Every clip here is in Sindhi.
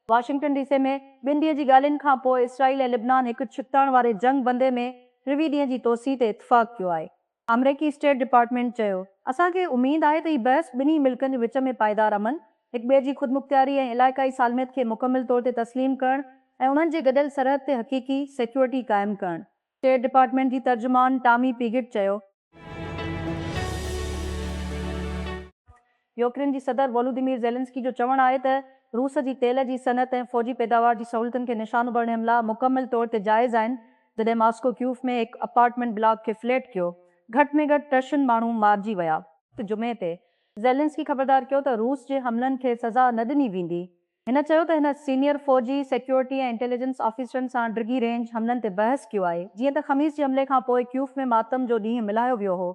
واشنگٽن ڊي سي ۾ ٻن ڏينهن جي ڳالهين کان پوء اسرائيل ۽ لبنان هڪ ڇڪتاڻ واري جنگ بندي ۾ ٽيوي ڏينهن جي توسيع تي اتفاق ڪيو آهي. آمريڪي اسٽيٽ ڊپارٽمينٽ چيو، اسان کي اميد آهي ته هي بحث ٻنهي ملڪن جي وچ ۾ پائيدار امن، هڪ ٻئي جي خودمختياري ۽ علائقائي سالميت کي مڪمل طور تي تسليم ڪرڻ ۽ انهن جي گڏيل سرحد تي حقيقي سيڪيورٽي قائم ڪرڻ اسٽيٽ ڊپارٽمينٽ جي ترجمان ٽامي پيگٽ چيو. يوڪرين جي صدر وولوديمير زيلنسڪي جو چوڻ آهي ته روس جي تيل جي صنعت ۽ فوجي پيداوار جي سهولتن کي نشانو ڀرڻ حملا مڪمل طور تي جائز آهن جڏهن ماسڪو ڪيوف ۾ هڪ اپارٽمينٽ بلاڪ کي فليٽ ڪيو گهٽ ۾ گهٽ ٽه شن ماڻهو مارجي ويا. جمعي تي زيلنسڪي خبردار ڪيو ته روس جي حملن کي سزا نه ڏني ويندي هن چيو ته هن سينيئر فوجي، سيڪيورٽي ۽ انٽيليجنس آفيسرن سان ڊگهي رينج حملن تي بحث ڪيو آهي، جيئن ته خميس جي حملي کان پوء ڪيوف ۾ ماتم جو ڏينهن ملهايو ويو هو.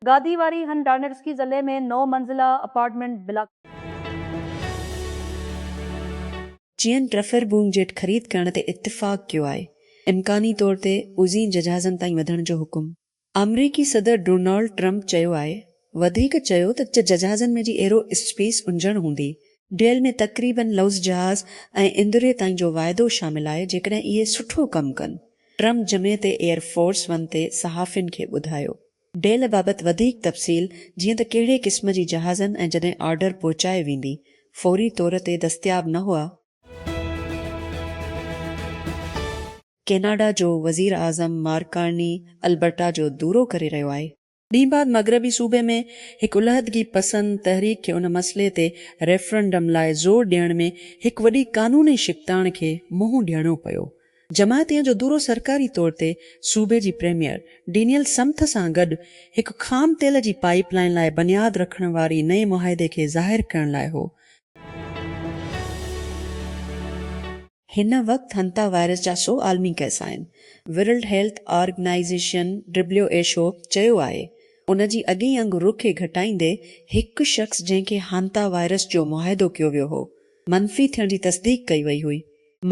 گادي واري هن ڊارنيٽسڪي ضلعي ۾ نو منزله اپارٽمينٽ بلاڪ. چين ٽرفر بونگ جيٽ خريد ڪرڻ تي اتفاق ڪيو آهي، امڪاني طور تي اوزين ججهازن تائين وڌڻ جو حڪم. آمريڪي صدر ڊونالڊ ٽرمپ چيو آهي وڌيڪ چيو ته ججهازن ۾ جي ايرو اسپيس انجڻ هوندي ڊيل ۾ تقريبن لوز جهاز ۽ اندري تائين جو واعدو شامل آهي جيڪڏهن اهي سٺو ڪم ڪن ٽرمپ جمعي تي ايئر فورس ون تي صحافين کي ٻڌايو ڊيل بابت وڌيڪ تفصيل جيئن ته ڪهڙي قسم جي جهازن ۽ جڏهن آرڊر پهچائي ويندي فوري طور تي دستياب نه هئا. ڪيناڊا جو وزير اعظم مارڪ ڪارني البرٽا جو دورو ڪري رهيو آهي. ڏينهن بعد مغربي صوبي ۾ هڪ علحدگي پسند تحريڪ کي ان مسئلي تي ريفرنڊم لاء زور ڏيڻ ۾ هڪ وڏي قانوني شڪتاڻ کي منهن ڏيڻو پيو. جماعتين جو دورو سرڪاري طور تي صوبي جي پريميئر ڊينيل سمٿ سان گڏ هڪ خام تيل جي پائيپ لائين لاء بنياد رکڻ واري نئين معاهدي کي ظاهر ڪرڻ لاء هو. هن وقت هنتا وائرس جا سؤ عالمي ڪيس آهن. World health organisation, W H O, چيو آهي ان جي اڳئين انگ رخ کي گهٽائيندي هڪ شخص جنهن کي هانتا وائرس جو معاهدو ڪيو ويو هو، منفي ٿيڻ جي تصديق ڪئي وئي هئي.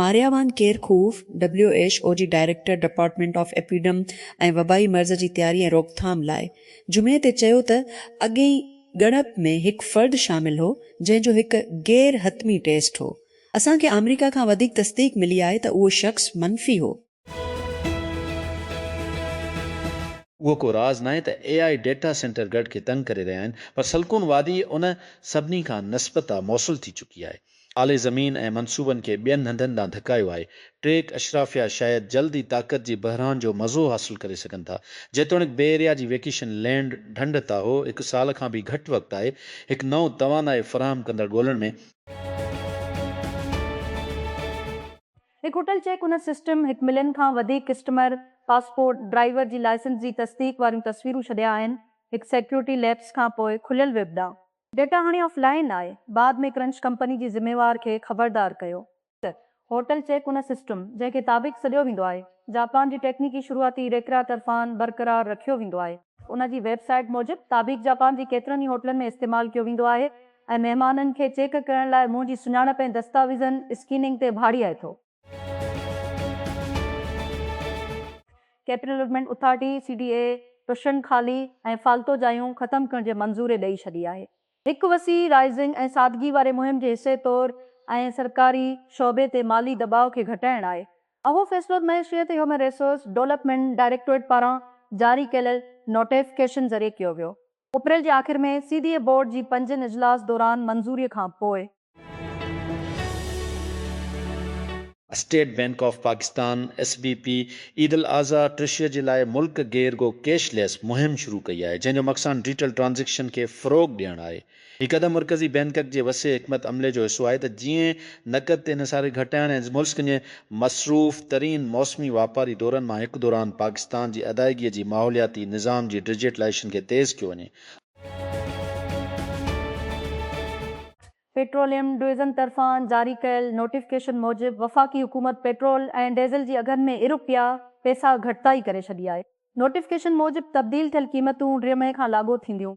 Maria van Kerkhove, W H O جي ڊائريڪٽر ڊپارٽمينٽ آف ايپيڊم ۽ وبائي مرض جي تياري ۽ روڪٿام لاء، جمعي تي چيو ته اڳئين ڳڻپ ۾ هڪ فرد شامل هو جنهن جو هڪ غير حتمي ٽيسٽ هو اسان کي آمريڪا کان وڌيڪ تصديق ملي آهي ته اهو شخص منفي هو. اهو ڪو راز ناهي ته A I data centre grid کي تنگ ڪري رهيا آهن پر سلڪون وادي ان سڀني کان نسبتا موصل ٿي چڪي آهي. اعلي زمين ۽ منصوبن کي ٻين هنڌن ڏانهن ڌڪايو آهي. ٽيڪ اشرافيا شايد جلد ئي طاقت جي بحران جو مزو حاصل ڪري سگهن ٿا. جيتوڻيڪ بي ايريا جي ويڪيشن لينڊ ڍنڍ تاهو هڪ سال کان به گهٽ وقت آهي هڪ نئون توانائي فراهم ڪندڙ ڳولڻ ۾، هڪ هوٽل چيڪ ان سسٽم هڪ ملين کان وڌيڪ ڪسٽمر پاسپورٽ، ڊرائيور جي لائسنس جي تصديق واريون تصويرون ڇڏيا آهن، هڪ سيڪيورٽي ليپس کان پوء کليل ويب ڏانهن. ڊيٽا هاڻي آف لائين آهي، بعد ۾ ڪرنچ ڪمپني جي ذميوار کي خبردار ڪيو. ته هوٽل چيڪ ان سسٽم، جنهن کي تابيڪ سڏيو ويندو آهي، جاپان جي ٽيڪنيڪي شروعاتي ريڪرا طرفان برقرار رکيو ويندو آهي. ان جي ويب سائيٽ موجب، تابيڪ جاپان جي ڪيترن ئي هوٽلن ۾ استعمال ڪيو ويندو آهي ۽ مهمانن کي چيڪ ڪرڻ لاء منهن جي سڃاڻپ ۽ دستاويزن اسڪيننگ تي ڀاڙي آئي ٿو. Capital Development Authority, C D A, ٽشن خالي ۽ فالتو جايون ختم ڪرڻ جي منظوري ڏئي ڇڏي آهي. هڪ وسيع رائزنگ ۽ سادگي واري مهم جي حصي طور ۽ سرڪاري شعبي تي مالي دٻاء کي گهٽائڻ آهي. اهو فيصلو معيشيت هيومن ريسورس ڊولپمينٽ ڊائريڪٽوريٽ پاران جاري ڪيل نوٽيفڪيشن ذريعي ڪيو ويو. اپريل جي آخر ۾ سي ڊي اي بورڊ جي پنجين اجلاس دوران منظوري کان پوء، State Bank of Pakistan, S B P, عيدالاضحيٰ ٽريشري جي لاء ملڪ گير گو ڪيش ليس مهم شروع ڪئي آهي، جنهن جو مقصان ڊيٽل ٽرانزيڪشن کي فروغ ڏيڻ آهي. هي قدم مرڪزي بينڪڪ جي وسيع حڪمت عملي جو حصو آهي ته جيئن نقد تي انحصاري گهٽائڻ ۽ ملسڪ جي مصروف ترين موسمي واپاري دورن مان هڪ دوران پاڪستان جي ادائيگي جي ماحولياتي نظام جي ڊجيٽلائيشن کي تيز ڪيو وڃي. پيٽروليم ڊويزن طرفان جاري ڪيل نوٽيفڪيشن موجب وفاقي حڪومت پيٽرول ۽ ڊيزل جي اگهن ۾ ارب پيا پيسا گهٽتائي ڪري ڇڏي آهي، نوٽيفڪيشن موجب تبديل ٿيل قيمتون ڙي مئي کان لاڳو ٿينديون.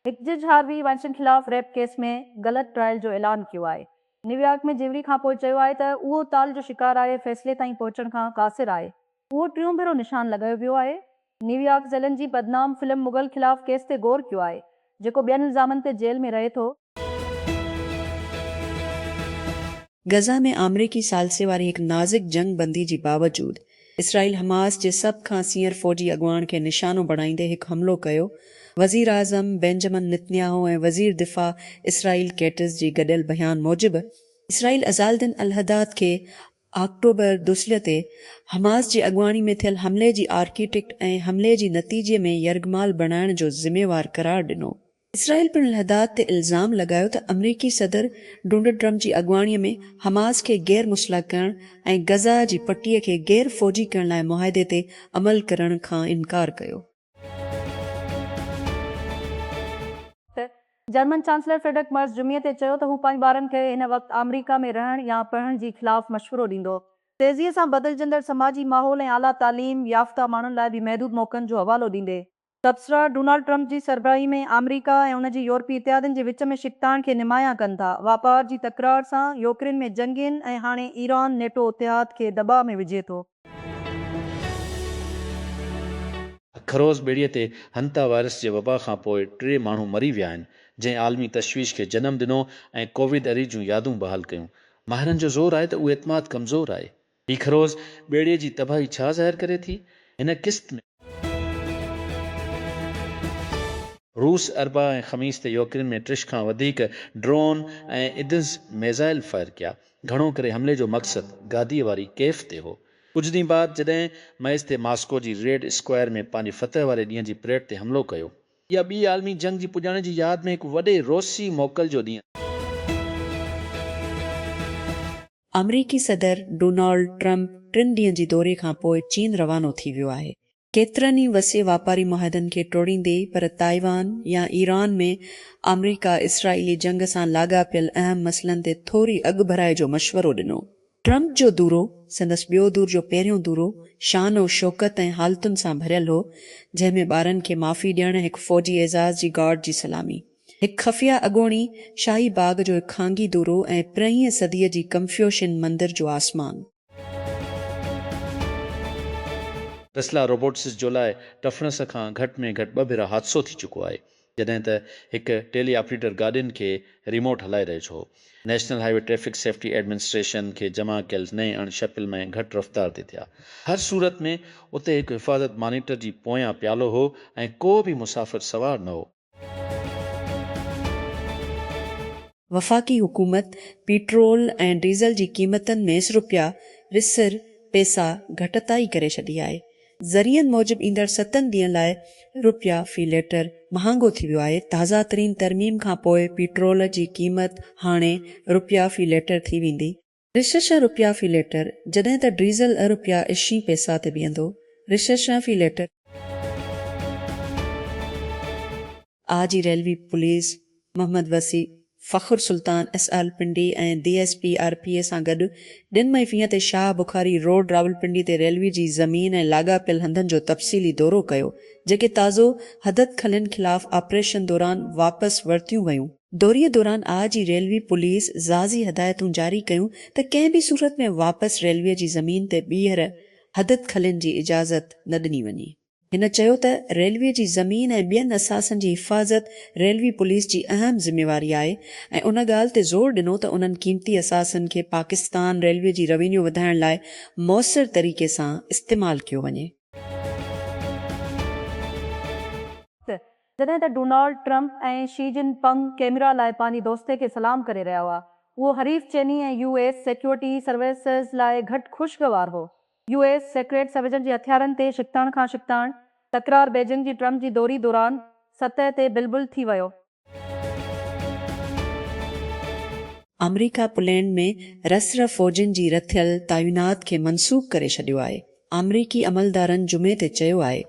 هڪ جج هاروي وائنسٽين خلاف ريپ ڪيس ۾ غلط ٽرائل جو اعلان ڪيو آهي، نيويارڪ ۾ جيوري کانپوء چيو آهي ته اهو تال جو شڪار آهي، فيصلي تائين پهچڻ کان قاصر آهي، اهو ٽيون ڀيرو نشان لڳايو ويو آهي. نيويارڪ ذيلن جي بدنام فلم مغل خلاف ڪيس تي غور ڪيو آهي، جيڪو ٻين الزامن تي جيل ۾ رهي ٿو. غزه ۾ آمريڪي ثالثي واري هڪ نازڪ جنگ بندي جي باوجود اسرائيل حماس جي سڀ کان سينئر فوجي اڳواڻ کي نشانو بڻائيندي هڪ حملو ڪيو، وزيراعظم بينجمن نتنياهو ۽ وزير دفاع اسرائيل ڪيٽز جي گڏيل بيان موجب، اسرائيل عزالدين الحداد کي آڪٽوبر دوشلي تي حماس جي اڳواڻي ۾ ٿيل حملي جي آرڪيٽيڪٽ ۽ حملي جي نتيجي ۾ يرغمال بڻائڻ جو ذميوار قرار ڏنو. اسرائيل پڻ الحداد تي الزام لڳايو ته آمريڪي صدر ڊونلڊ ٽرمپ جي اڳواڻي ۾ حماس کي غير مسلح ڪرڻ ۽ غزه جي پٽي کي غير فوجي ڪرڻ لاء معاهدي تي عمل ڪرڻ کان انڪار ڪيو. جرمن چانسلر فريڊرڪ مرز جمعي تي چيو ته هو پنهنجي ٻارن کي هن وقت آمريڪا ۾ رهڻ يا پڙهڻ جي خلاف مشورو ڏيندو. تيزيء سان بدلجندڙ سماجي ماحول ۽ اعليٰ تعليم يافته ماڻهن لاء بي محدود موقعن جو حوالو ڏيندي، تبصرا ڊونالڊ ٽرمپ جي سربراهي ۾ آمريڪا ۽ ان جي يورپي اتحادين جي وچ ۾ ڇڪتاڻ کي نمايان ڪن ٿا، واپار جي تڪرار سان، يوڪرين ۾ جنگين ۽ هاڻي ايران نيٽو اتحاد کي دٻاء ۾ وجهي ٿو. خروس ٻيڙيء تي هنتا وائرس جي وبا کان پوء ٽي ماڻهو مري ويا آهن، جنهن عالمي تشويش کي جنم ڏنو ۽ ڪوويد اري جون يادون بحال ڪيون. ماهرن جو زور آهي ته اهو اعتماد ڪمزور آهي. هي خروس ٻيڙيء جي تباهي ڇا ظاهر ڪري ٿي؟ هن قسط ۾. روس اربع ۽ خميس تي يوڪرين ۾ ٽيش کان وڌيڪ ڊرون ۽ ايدز ميزائل فائر ڪيا. گهڻو ڪري حملي جو مقصد گاديء واري ڪيف تي هو. ڪجهه ڏينهن بعد جڏهن مئس تي ماسڪو جي ريڊ اسڪوائر ۾ پنهنجي فتح واري ڏينهن جي پريڊ تي حملو ڪيو. اها ٻي عالمي جنگ جي پڄاڻي جي ياد ۾ هڪ وڏي روسي موڪل جو ڏينهن آهي. آمريڪي صدر ڊونالڊ ٽرمپ ٽن ڏينهن جي دوري کانپوء چين روانو ٿي ويو آهي. ڪيترن ئي وسيع واپاري معاهدن کي ٽوڙيندي پر تائيوان يا ايران ۾ آمريڪا اسرائيلي جنگ سان لاڳاپيل اهم مسئلن تي ٿوري اڳڀرائي جو مشورو ڏنو. ٽرمپ جو دورو، سندس ٻيو دور جو پهريون دورو، شان و شوڪت ۽ حالتن سان ڀريل هو، جنهن ۾ ٻارن کي معافي ڏيڻ، هڪ فوجي اعزاز جي گارڊ جي سلامي، هڪ خفيه اڳوڻي شاهي باغ جو هڪ خانگي دورو ۽ پرينهينء صديء جي ڪنفيوشين مندر جو آسمان. ٽسلا روبوٽسز جو لاء ٽفڻس کان گهٽ ۾ گهٽ ٻه ڀيرا حادثو ٿي چڪو آهي جڏهن ته هڪ ٽيلي آپريٽر گاڏين کي ريموٽ هلائي رهيو ڇو National Highway Traffic Safety Administration کي جمع ڪيل نئين اڻ شڪل ۾ گهٽ رفتار تي ٿيا هر صورت ۾ اتي هڪ حفاظت مانيٽر جي پويان پيالو هو ۽ ڪو به مسافر سوار نه هو. وفاقي حڪومت پيٽرول ۽ ڊيزل جي قيمتن ۾ رپيا وسر پيسا گهٽتائي ڪري ڇڏي آهي. ذريعن موجب ايندڙ ستن ڏينهن لاء رپيا في ليٽر مهانگو ٿي ويو آهي. تازه ترين ترميم کانپوء پيٽرول جي قيمت هاڻي رپيا في ليٽر ٿي ويندي. رششا رپيا في ليٽر جڏهن ته ڊريزل ء رپيا اشين پيسا تي بيهندو، رششا في litre. I G railway police Muhammad Wasi, Fakhar Sultan S آرلپنڊي ۽ D S P R P A سان گڏ ڏن مئي فينهن تي شاهه بخاري روڊ راولپنڊي تي ريلوي جي زمين ۽ لاڳاپيل هنڌن جو تفصيلي دورو ڪيو جيڪي تازو حددخلين خلاف آپريشن دوران واپس ورتيون ويون دوري دوران آء جي ريلوي پوليس ضازي هدايتون جاري ڪيون ته ڪنهن به صورت ۾ واپس ريلوي جي زمين تي ٻيهر حدد کلين جي اجازت نه ڏني وڃي. هن چيو ته ريلوي جي زمين ۽ ٻين اثاثن جي حفاظت ريلوي پوليس جي اهم ذميواري آهي ۽ ان ڳالهه تي زور ڏنو ته انهن قيمتي اثاثن کي پاڪستان ريلوي جي روينيو وڌائڻ لاء موثر طريقي سان استعمال ڪيو وڃي. جڏهن ته Donald Trump ۽ Xi Jinping camera لاء پنهنجي دوستي کي سلام ڪري رهيا هئا. اهو حريف چيني ۽ يو ايس سيڪيورٽي سروسز لاء گهٽ خوشگوار هو. يو ايس سيڪريٽ سروسز جي هٿيارن تي ڇڪتاڻ کان ڇڪتاڻ تڪرار بيجنگ جي ٽرمپ جي دوري دوران سطح تي بلبل ٿي ويو. آمريڪا پولينڊ ۾ رس رف فوجين جي رٿيل تعينات کي منسوخ ڪري ڇڏيو آهي. آمريڪي عملدارن جمعي تي چيو آهي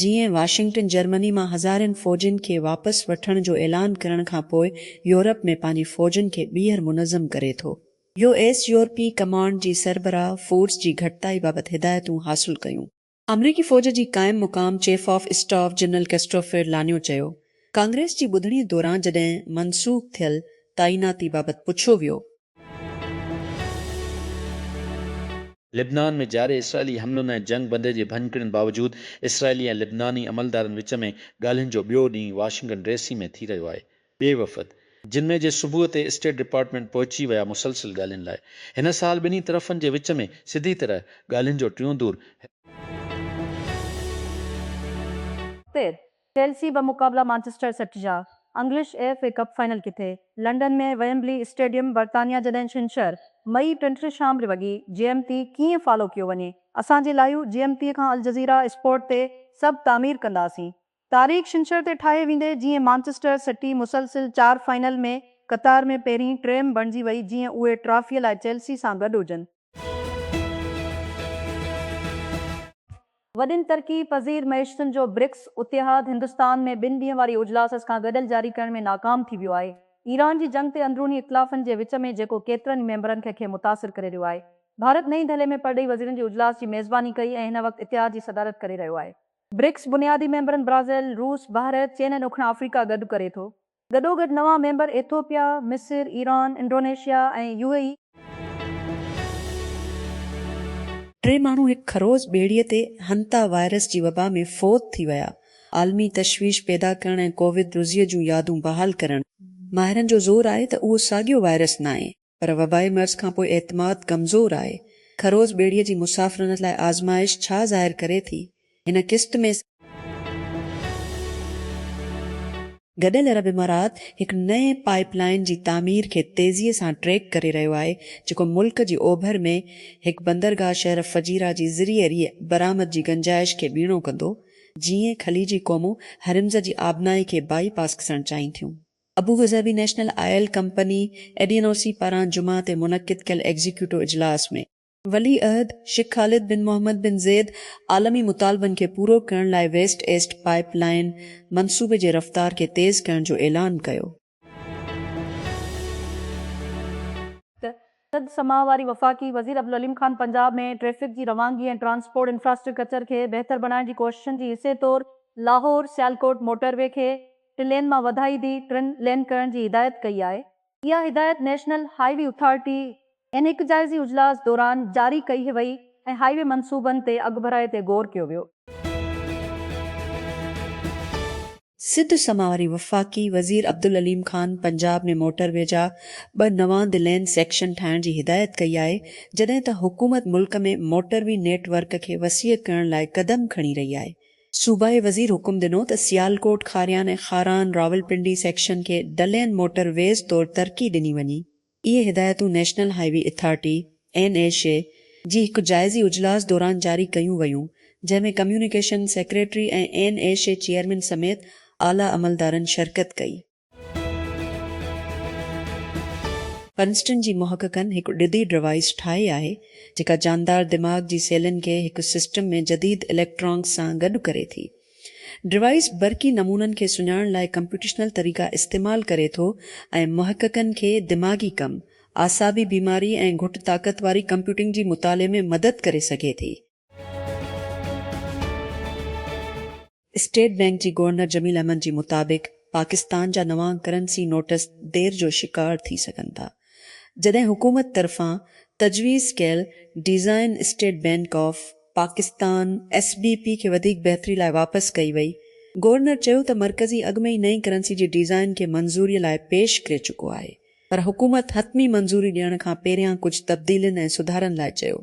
جيئن واشنگٽن جرمني مان هزارين فوجين کي واپس وٺڻ جو اعلان ڪرڻ کان پوء يورپ ۾ پنهنجي فوجن کي ٻيهر منظم ڪري ٿو. يو ايس يورپي ڪمانڊ جي سربراهه فورس جي گهٽتائي بابت هدايتون حاصل ڪيون. آمريڪي فوج جي قائم مقام chief of staff general Christopher LaNeve چيو ڪانگريس جي ٻڌڻي دوران جڏهن منسوخ ٿيل تعيناتي بابت پڇيو ويو لبنان ۾ جاري اسرائيلي حملن ۽ جنگ بندي جي ڀڃڪڙين باوجود اسرائيلي ۽ لبناني عملدارن وچ ۾ ڳالهين جو ٻيو ڏينهن واشنگٽن ڊي سي ۾ ٿي رهيو آهي. ٻئي وفد جمعي جي صبح تي اسٽيٽ ڊپارٽمينٽ پهچي ويا مسلسل ڳالهين لاء هن سال ٻنهي طرفن جي وچ ۾ سڌي طرح ڳالهين جو ٽيون دور هي. تير چيلسي ٻه مقابلا مانچسٽر سٽي جا English F A Cup final ڪٿي لنڊن ۾ ويمبلي اسٽيڊيم برطانيا جڏهن ڇنڇر، مئي ٽنٽ شام ڙي وڳي جي ايم پي ڪيئن فالو ڪيو وڃي اسان جي لائيو جي ايم پي کان الجزيره اسپورٽ تي سڀ تعمير ڪنداسين تاريخ ڇنڇر تي ٺاهي ويندي جيئن مانچسٽر سٽي مسلسل چار فائنل ۾ قطار ۾ پهرين ٽيم بڻجي وئي جيئن اهي ٽرافي لاء چيلسي سان گڏ هجن. وڏين ترقي پذير معيشتن جو برڪس اتحاد هندستان ۾ ٻن ڏينهن واري اجلاس کان گڏيل جاري ڪرڻ ۾ ناڪام ٿي ويو آهي. ايران جي جنگ تي اندروني اختلافن جي وچ ۾ جيڪو ڪيترن ئي ميمبرن کي کي متاثر ڪري رهيو آهي. ڀارت نئين دهلي ۾ پرڏيهي وزيرن جي اجلاس جي ميزباني ڪئي ۽ هن وقت اتحاد جي صدارت ڪري رهيو آهي. برڪس بنيادي ميمبرن برازيل، روس، بحريت، چين ۽ ڏکڻ آفريڪا گڏ ڪري ٿو. گڏوگڏ نوان ميمبر ايٿوپيا، مصر، Iran, Indonesia ۽ U A E. ٽي ماڻهو هڪ خروز ٻيڙيء تي هنتا وائرس جي وبا ۾ فوت ٿي ويا، عالمي تشويش پيدا ڪرڻ ۽ ڪووڊ روزيء جون يادون بحال ڪرڻ، ماهرن جو زور آهي ته اهو ساڳيو وائرس ناهي. پر وبائي مرض کان پوء اعتماد ڪمزور آهي، خروز ٻيڙيء جي مسافرن لاء آزمائش ڇا ظاهر ڪري ٿي، هن قسط ۾. گڏيل عرب امارات هڪ نئين پائيپ لائين جي تعمير کي تيزيء سان ٽريڪ ڪري رهيو آهي، جيڪو ملڪ جي اوڀر ۾ هڪ بندرگاهه شهر فجيره جي ذريعي ريء برآمد جي گنجائش کي ٻيڻو ڪندو، جيئن خليجي قومون هرمز جي آبنائي کي بائي پاس ڪسڻ چاهين ٿيون. Abu Dhabi National Oil Company, ADNOC, پاران جمعه تي منعقد ڪيل ايگزيڪيوٽو اجلاس ۾، ولي عهد شيخ خالد بن محمد بن زيد عالمي مطالبن کي پورو ڪرڻ لاء ويسٽ ايسٽ پائيپ لائين منصوبي جي رفتار کي تيز ڪرڻ جو اعلان ڪيو. سڌ سماء واري وفاقي وزير عبدالعليم خان پنجاب ۾ ٽريفڪ جي روانگي ۽ ٽرانسپورٽ انفراسٽرڪچر کي بهتر بڻائڻ جي ڪوششن جي حصي طور لاهور سيالڪوٽ موٽر وي کي ٽي لين مان وڌائي دي ٽن لين ڪرڻ جي هدايت ڪئي آهي. اها هدايت نيشنل هاء وي اٿارٽي اين هڪ جائزي اجلاس دوران جاري ڪئي وئي ۽ هاء وي منصوبن تي اڳڀرائي تي غور ڪيو ويو. سنڌ سما واري وفاقي وزير عبدالعليم خان پنجاب ۾ موٽر وي جا ٻه نوان دي لين سيڪشن ٺاهڻ جي هدايت ڪئي آهي جڏهن ته حڪومت ملڪ ۾ موٽر وي نيٽ ورڪ کي وسيع ڪرڻ لاء قدم کڻي رهي آهي. صوبائي وزير حڪم ڏنو ته سيالڪوٽ، کاريان ۽ خاران، راولپنڊي سيڪشن کي دلين موٽر ويز طور ترقي ڏني وڃي. اهي هدايتون National Highway Authority, N H A, جي هڪ جائزي اجلاس دوران جاري ڪيون ويون، جنهن ۾ communication secretary ۽ N H A chairman سميت اعليٰ عملدارن شرڪت ڪئي. پرنسٽن جي محققن هڪ ڏڌي ڊوائيس ٺاهي آهي، جيڪا جاندار دماغ جي سيلن کي هڪ سسٽم ۾ جديد اليڪٽرانڪس سان گڏ ڪري ٿي. ڊوائيس برقي نمونن کي سڃاڻڻ لاء ڪمپيوٽيشنل طريقا استعمال ڪري ٿو ۽ محققن کي دماغي ڪم، اعصابي بيماري ۽ گهٽ طاقت واري ڪمپيوٽنگ جي مطالعي ۾ مدد ڪري سگهي ٿي. اسٽيٽ بئنڪ جي گورنر جميل احمد جي مطابق پاڪستان جا نوان ڪرنسي نوٽس دير جو شڪار ٿي سگهن ٿا. جڏهن حڪومت طرفان تجويز ڪيل design State Bank of Pakistan, S B P, کي وڌيڪ بهتري لاء واپس ڪئي وئي، گورنر چيو ته مرڪزي اڳ ۾ ئي نئين ڪرنسي جي ڊيزائن کي منظوري لاء پيش ڪري چڪو آهي پر حڪومت حتمي منظوري ڏيڻ کان پهريان ڪجهه تبديلين ۽ سڌارن لاء چيو.